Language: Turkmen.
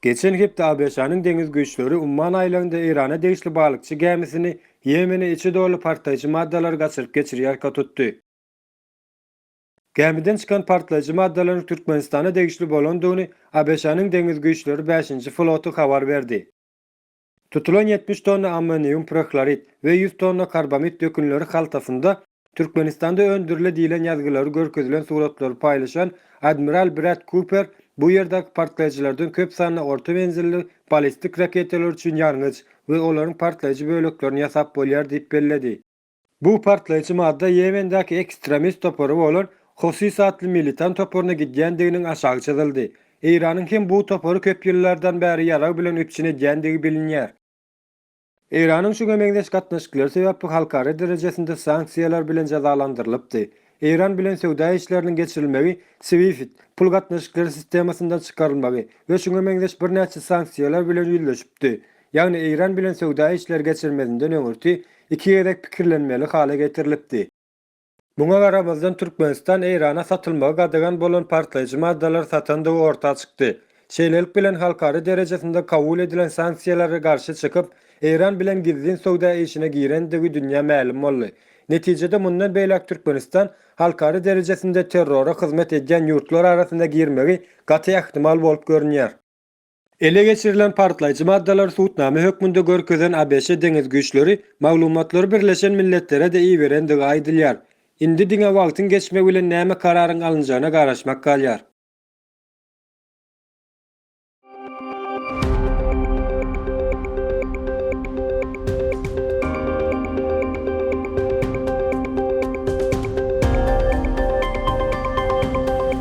Geçen hepde ABŞ-nyň deňiz güýçleri Umman aýlagynda Eýrana degişli balykçy gämisini Ýemene içi doly partlaýjy maddalary gaçyryp geçirýärka tutdy. Gämiden çykan partlaýjy maddalaryň Türkmenistana degişli bolandygyny ABŞ-nyň deňiz güýçleri bäşinji floty habar berdi. Tutulan ýetmiş tonna ammonium prohlorid we ýüz tonna karbamid dökünleri haltasynda Türkmenistanda öndürile diýlen ýazgylary görkezilen suratlary paýlaşan admiral Brat Kuper bu ýerdäki partlaýjylardan köp sanly orta menzilli ballistik raketalar üçin ýangyç we olaryň partlaýjy böleklerini ýasap bolýar diýip belledi. Bu partlaýjy madda Ýemendäki ekstremist topary bolan Hosis atly militan toparyna gidýändiginiň aşagy çyzyldy. Eýranyň hem bu topary köp ýyllardan bäri ýarag bilen üpjün edýändigi bilinýär. Eýranyň şuňa meňzeş gatnaşyklary sebäpli halkara derejesinde sanksiýalar bilen jezalandyrylypdy. Eýran bilen söwda işleriniň geçirilmegi, SWIFT, pul gatnaşyklary sistemasyndan çykarylmagy we şuňa meňzeş birnäçe sanksiýalar bilen ýüzleşipdi. ýagny Eýran bilen söwda işleri geçirmezinden öňürti iki gezek pikirlenmeli hala getirilipdi. Muňa garamazdan Türkmenistan Eýrana satylmagy gadagan bolan partlaýjy maddalary satandygy orta çykdy. Şeýlelik bilen halkara derejesinde kabul edilen sanksiýalara garşy çykyp, Eýran bilen gizlin söwda işine girendigi dünýä mälim boldy. Netijede mundan beýläk Türkmenistan halkara derejesinde terrora hyzmat edýän ýurtlar arasyna girmegi gaty ähtimal bolup görünýär. Ele geçirilen partlaýjy maddalary subutnama hökmünde görkezen ABŞ Deňiz güýçleri maglumatlary Birleşen Milletlere-de iberendigi aýdylýar. Indi diňe wagtyň geçmegi bilen näme kararyň alynjagyna garaşmak galýar.